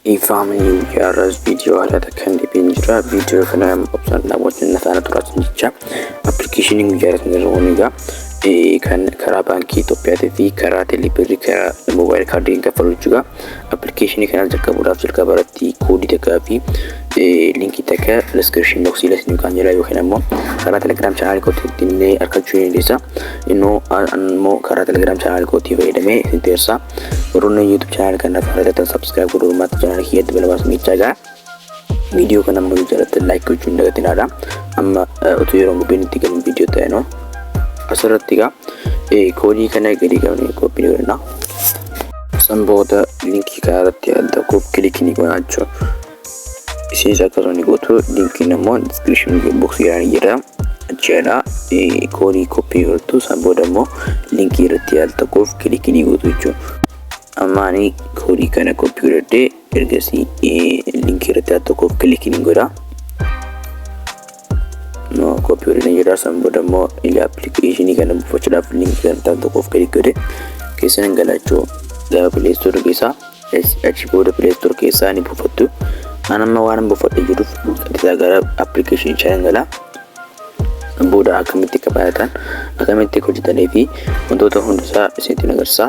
Dhiifama har'as viidiyoo haalata kan deebiin jira. Viidiyoo kana obsaan daawwachuun na taana turaatiin jecha appilikeeshiniin guyyaa irratti nirroon egaa kan karaa baankii Itoophiyaatii fi karaa teeleebirrii karaa moobaayil kaardiin kaffaluu jechuudha. Appilikeeshinii kana jalqabuudhaaf jalqaba irratti koodii takkaa fi linkii takka diskiripshin boksii lasni kan jira yookiin ammoo karaa telegiraam chaanaalii kootiitti illee argachuu ni dandeessa. Inno ammoo karaa Telegram channel kootii fayyadamee isin teessaa. Warroonni YouTube channel kanaaf hojjetan subscribe godhuu uummata channel kiyyatti balabaa sumichaa gaa. Viidiyoo kana ammoo jaalatti like gochuu hin dagatinaadha. Amma utuu yeroo gubbiin itti galu viidiyoo ta'e noo. Asirratti gaa koodii kana gadi qabnee koppii ni godhanna. San booda linkii kanarratti adda koop kilikii ni goona jechuudha. Isinis akka toni gootu linkiin immoo description box yaani jedha. Achiidha koodii koppii godhatu san booda immoo linkii irratti yaal tokkoof kilikii ni gootu jechuudha. Amma ani koodii kana koppii godhadhee ergasii linkii irratti yaal tokkoof kilikii ni godha. no copy godhanii jira san booda immoo ila appilikeeshinii kana buufachuudhaaf linkii kan ta'an tokkoof gadi godhe keessan hin galachuu gara pileestoor keessaa achi booda pileestoor keessaa ni buufattu an amma waan buufadhe jiruuf qadisaa gara appilikeeshinii chaa hin galaa booda akkamitti akka baay'atan akkamitti akka hojjetanii fi wantoota hundusaa isinitti agarsiisa.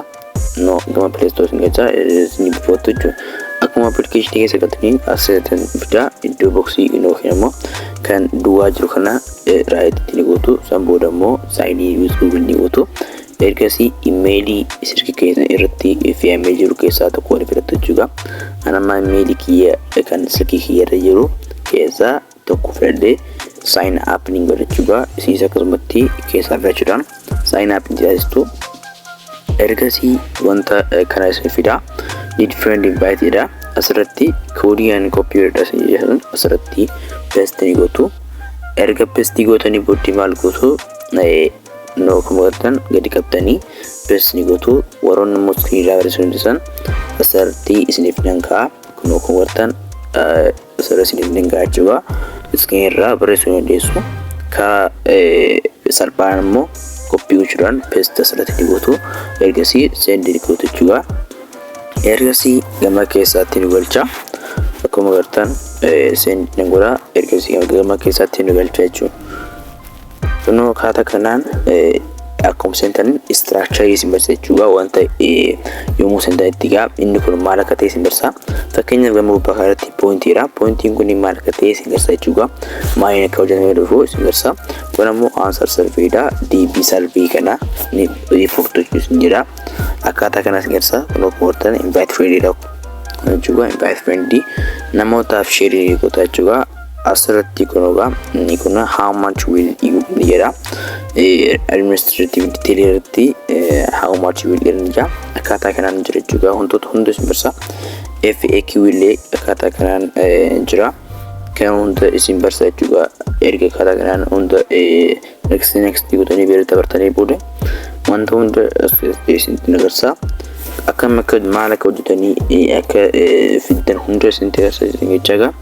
no gama play store isin galchaa isin buufattu jechuudha akkuma application keessa galtaniin asirratti fidaa iddoo boksii yookiin immoo kan duwwaa jiru kana raayititti ni gootu san booda immoo saayinii yuuz guugil ni gootu ergasii imeelii sirki keessan irratti fe'amee jiru keessaa tokko ni filattu jechuudha anammaa imeelii kiyya kan sirkii kiyya irra jiru keessaa tokko filadhee sign up ni godha jechuudha. Isinis akkasumatti keessaa filachuudhaan sign up ni taasistu. Ergasii wanta kana isin fida. Need friend invite jedha. Asirratti koodii ani koppii godhadha isin jedhan asirratti paste ni gootu. Erga paste gootanii booddee maal gootu? Noo kan godhatan gadi qabdanii paste ni gootu. Warroonni immoo iskiriinii irraa barreessuu dandeessan asirratti isiniif nan ka'a. Kunoo kan wartan sirra isiniif nan ga'a jechuudha. Iskiin irraa barreessuu dandeessu. Ka salphaan immoo koppii gochuudhaan peestii asirratti ni gootu. Ergasii seendii ni gootu jechuudha. Ergasii gama keessaatti ni galcha. Akkuma gartan seendii ni godha. Ergasii gama keessaatti ni galcha jechuudha. Kunoo akkaataa kanaan akkuma seentan istiraakcharii isin barsiisa jechuudha wanta yommuu seentan itti gaa inni kun maal akka ta'e isin barsiisa fakkeenyaaf gama gubbaa kanarratti pooyintiidha pooyintiin kun maal akka ta'e isin barsiisa jechuudha maaliin akka hojjetame dhufu isin barsiisa kun ammoo aansar sarveedha deebii sarvee kana ni riipoortu jechuudha isin jedha akkaataa kana isin barsiisa kunoo koortan invaayitii firiidha jechuudha invaayitii firiidii namootaaf sheerii goota jechuudha Asirratti kun egaa inni kun how much will you earn jedha. Administrative detail irratti how much will earn jedha. Akkaataa kanaan jira jechuudha. Wantoota hunda isin barsa. FAQ illee akkaataa kanaan jira. Kan hunda isin barsa jechuudha. Erga akkaataa kanaan hunda next next gootanii beela dabartanii booda wanta hunda isinitti agarsiisa akkam akka maal akka hojjetanii akka fiddan hunda isinitti agarsiisa jechaa egaa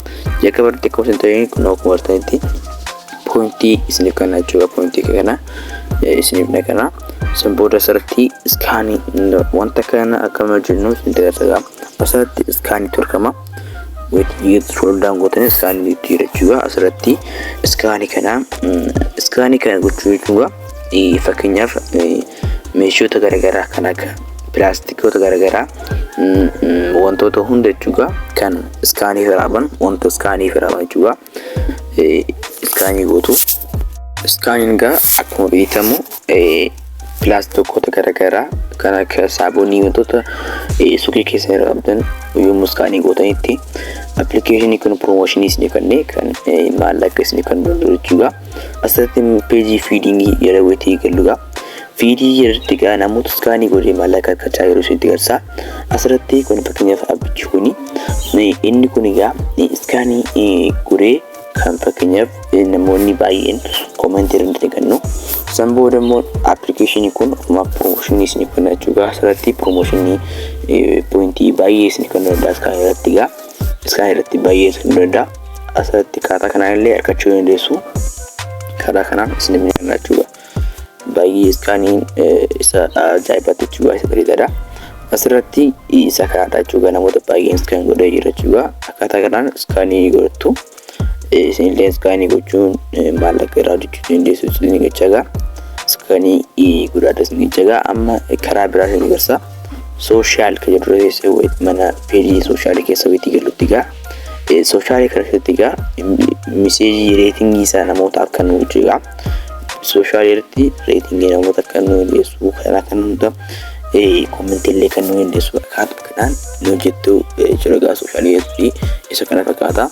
jalqaba irratti akkuma isin ta'een kun akkuma artanitti poointii isiniif kana jechuudha poointii kana isiniif na kana san booda asirratti iskaanii wanta kana akkam hojjennu isinitti agarsiisa asirratti iskaanii torkama scroll down gootanii iskaanii itti hidhachuudha asirratti iskaanii kana iskaanii kana gochuu jechuudha fakkeenyaaf meeshoota garaagaraa kan akka pilaastikoota garaagaraa wantoota hunda jechuudha kan iskaanii firaaban wanta iskaanii firaaban jechuudha. iskaanii gootu. Iskaaniin egaa akkuma beekamu pilaastokoota garaagaraa kan akka saabonii wantoota suuqii keessa irra qabdan yommuu iskaanii gootanitti appilikeeshinii kun piroomooshinii isin kennee kan maallaqa isin kan jechuudha. Asirratti peejii fiidingii jala wayitee galudha. Viidiyii yerritti egaa namoota iskaanii godhee maallaqaa argachaa yeroo isinitti garsaa asirratti kun fakkeenyaaf abbichi kuni inni kun egaa iskaanii godhee kan fakkeenyaaf namoonni baay'een koomentii irra nuti eegannu san booda immoo appilikeeshinii kun ofuma piroomooshinii isin kenna jechuudha asirratti piroomooshinii poointii baay'ee isin kennu danda'a iskaanii irratti egaa iskaanii irratti baay'ee isin kennu danda'a asirratti kaataa kanaan illee argachuu dandeessu karaa kanaan isin miidhagna jechuudha. Baay'ee iskaaniin isa ajaa'ibaatti jechuudha isa bareedaadha. Asirratti isa kaadha jechuudha namoota baay'een iskaan godhee jira jechuudha. Akkaataa kanaan iskaanii godhattu isinillee iskaanii gochuun maallaqa irraa hojjechuu dandeessu isin jechaadha. Iskaanii godhaadha isin jechaadha. Amma karaa biraa isin garsa. Sooshaal kan jedhu keessa mana peejii sooshaal keessa wayiti galutti gaa. Sooshaal keessatti gaa miseejii reetingii isaa namootaaf kan hojjetu Sooshaal irratti reetingii namoota kan nu hindeessu karaa kan hunda kommentii illee kan nu hindeessu akkaatu kanaan nu hojjettu jira gaa sooshaal irratti isa kana fakkaata.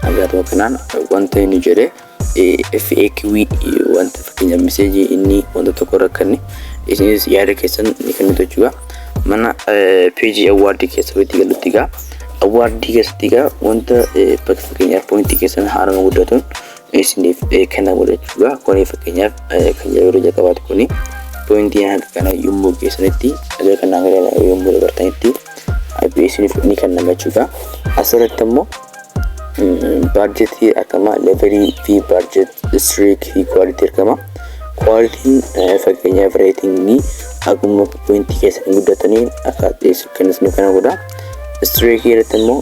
Hagaatuma kanaan wanta inni jedhe FAQ wanta fakkeenya miseejii inni wanta tokko rakkanne isinis yaada keessan ni kennitu jechuudha. Mana peejii awwaardii keessa walitti galutti gaa awwaardii keessatti gaa wanta fakkeenyaaf poointii keessan haarama guddatuun isiniif kana godha jechuudha. Kuni fakkeenyaaf kan yeroo jalqabaati kuni poointii hanga kana yommuu geessanitti dhagaa kana hanga kana yommuu dabartanitti IP isiniif ni kennama jechuudha. Asirratti immoo baarjetii akkama levelii fi baarjet istiriik fi kwaalitii argama. Kwaalitiin fakkeenyaaf reetingii akkuma poointii keessan guddataniin akka dhiyeessu kan isiniif kana godha. Istiriikii irratti immoo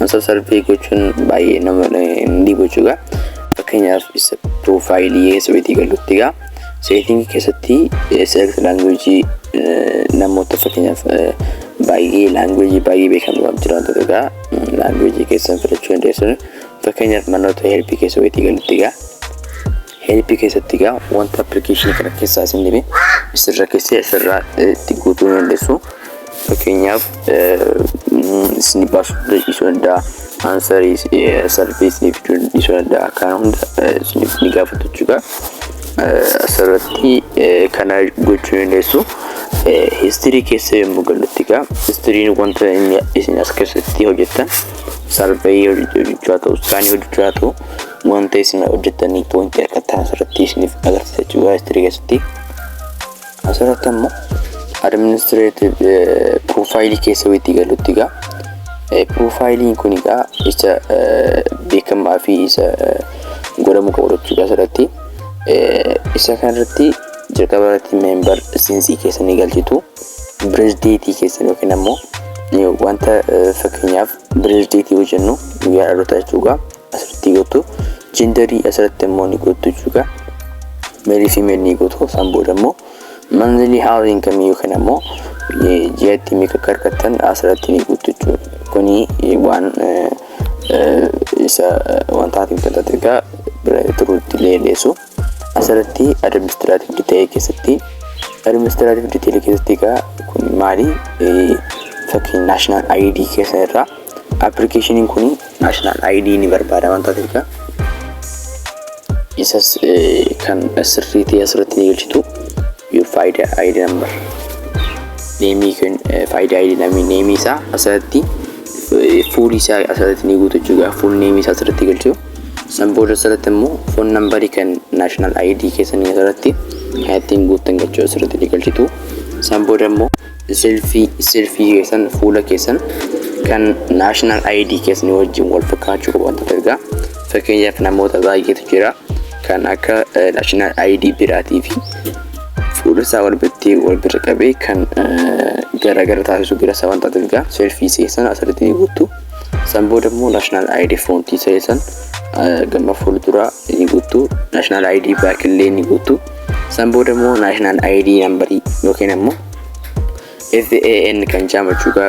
Masa sarvee gochuun baay'ee nama hin dhibu jechuudha. Fakkeenyaaf isa piroofaayilii keessa weetii galutti egaa seetingii keessatti select language namoota fakkeenyaaf baay'ee language baay'ee beekamu waan jiraatu egaa language keessan filachuu dandeessuun fakkeenyaaf manoota helpii keessa weetii galutti egaa Help keessatti egaa wanta application kana keessaa isin dhibe isin rakkisee asirraa itti guutuu ni dandeessu. Fakkeenyaaf isin baasuu dhiisuu danda'a. Aansarii sarvii isiniif dhiisuu danda'a. Kana hunda isiniif ni gaafatu jechuudha. Asirratti kana gochuu ni dandeessu. Histirii keessa yommuu gallutti egaa histiriin wanta inni isin as keessatti hojjettan sarvii hojjechaa ta'u, iskaanii hojjechaa ta'u wanta isin hojjettanii pointii argattan asirratti isiniif agarsiisa jechuudha history keessatti asirratti ammoo administrative profile keessa wayitti galutti egaa profilein kun egaa isa beekamaa fi isa godhamu qabu jechuudha asirratti isa kanarratti jalqaba irratti member sinsii keessanii galchitu birezdeetii keessan yookiin ammoo wanta fakkeenyaaf birezdeetii hojjennu guyyaa dhaloota jechuudha asirratti gootu jendarii asirratti immoo ni gootu jechuudha meelii fi meel ni gootu isaan booda immoo manzilii haala inkamii yookiin ammoo ji'atti meeqa akka argattan asirratti ni gootu jechuudha kuni waan isa wantaati wantaati egaa bira turuutti illee dheessu asirratti administraatiif diteelee keessatti administraatiif diteelee keessatti egaa kun maali fakkiin naashinaal ayidii keessan irraa Appilikeeshiniin kun naashinaal ID ni barbaada waan taateef egaa isas kan sirrii ta'e asirratti ni galchitu your faayida ID number neemii kan faayida ID namii neemii isaa asirratti fuulii isaa asirratti ni guutu jechuudha fuul neemii isaa asirratti galchu san booda asirratti immoo foon nambarii kan naashinaal ID keessanii asirratti kan ittiin guuttan galchuu asirratti ni galchitu san booda immoo Selfie, Selfie keessan, fuula keessan kan national ID keessanii wajjin wal fakkaachuu qabu wantoota ergaa. Fakkeenyaaf namoota baay'eetu jira kan akka eh, national ID biraatii fi fuula isaa wal biratti wal bira qabee kan eh, garaagara taasisu bira isaa waan taateef egaa selfie keessan asirratti ni guuttu. San booda immoo national ID foontii keessan eh, gama fuulduraa ni guuttu. National ID baakillee ni guuttu. San booda immoo national ID number yookiin ammoo FAN kan jaamu jechuudha.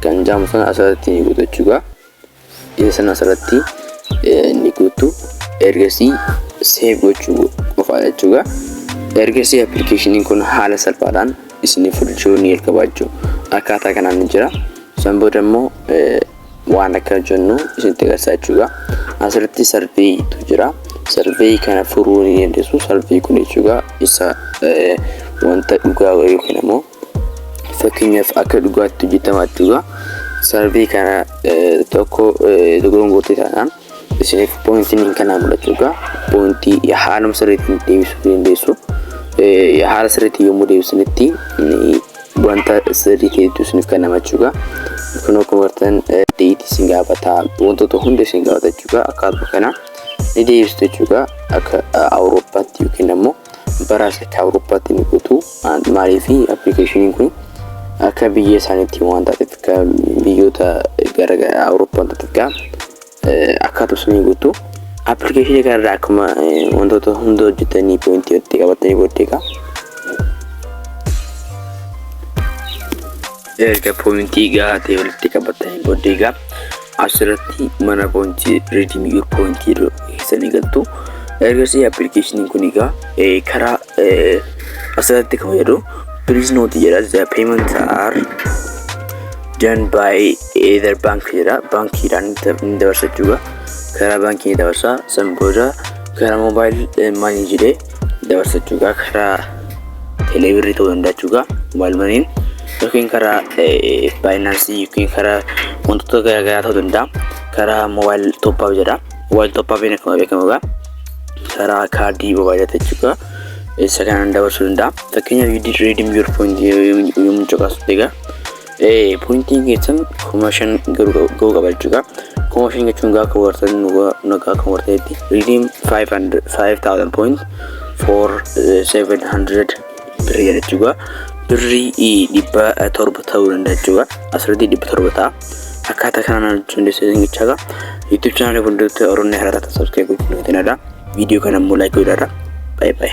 Kan jaamu sana asirratti ni guutu jechuudha. Isa sana asirratti ni guutu. Ergasii save gochuu qofaa jechuudha. Ergasii appilikeeshiniin kun haala salphaadhaan isiniif hojjechuu ni jalqaba jechuudha. Akkaataa kanaan ni jira. San booda immoo waan akka hojjennu isinitti agarsiisaa jechuudha. Asirratti sarveeyiitu jira. Sarveeyii kana furuu ni dandeessu. Sarveeyii kun jechuudha isa wanta dhugaa yookiin immoo fakkeenyaaf akka dhugaatti hojjetama jechuudha. Sarveeyii kana tokko dogongortee taanaan isiniif pointiin hin kanaa mul'achuu egaa pointii haaluma sirriitti deebisuu dandeessu haala sirriitti yommuu deebisanitti wanta sirrii ta'etu isiniif kennama jechuudha. Kun akkuma bartan deetii isin gaafata wantoota hunda isin gaafata jechuudha. Akkaatuma kana ni deebistu jechuudha akka Awurooppaatti yookiin ammoo Bara asitti Awurooppaatti ni guutu. Maaliif appilikeeshiniin kun akka biyya isaaniitti waan taateef akka biyyoota gara Awurooppaan taateef gaa akkaatu sun ni guutu. Appilikeeshinii kanarraa akkuma wantoota hunda hojjetanii poointii itti qabatanii booddee gaa erga poointii gahaa ta'e walitti qabatanii booddee gaa Asirratti mana poointii redeem your point jedhu keessanii galtu. Ergasii appilikeeshiniin kun egaa eh, karaa eh, asirratti kan fayyadu please note jedha the payments are done by either bank jedha baankiidhaan ni dabarsa jechuudha. Karaa baankii ni dabarsa san booda karaa mobile eh, money jedhee dabarsa jechuudha karaa teeleebirrii ta'uu danda'a jechuudha mobaayil maniin yookiin karaa baayinaansii yookiin karaa wantoota garaagaraa ta'uu danda'a karaa mobaayil tooppaaf jedha mobaayil tooppaafiin akkuma beekamu egaa karaa kaardii mobaayilaa jechuudha isa kanaan dabarsuu danda'a fakkeenyaaf yuudii reediim yuur poointi yommuu caqasu egaa Ee pointiin keessan kuma shan ga'uu qaba jechuudha. Kuma shan jechuun gaafa wartan nagaa kan warteetti redeem 5000 point for 700 birrii jechuudha. Birrii dhibba torba ta'uu danda'a jechuudha. Asirratti dhibba torba ta'a. Akkaataa kanaan hojjechuun dandeessan jechaadha. YouTube chaanaalii fuulduratti Oromoo Hararaa ta'an subscribe gochuun nuti nada. Viidiyoo kana immoo like godhaadha. Bye bye.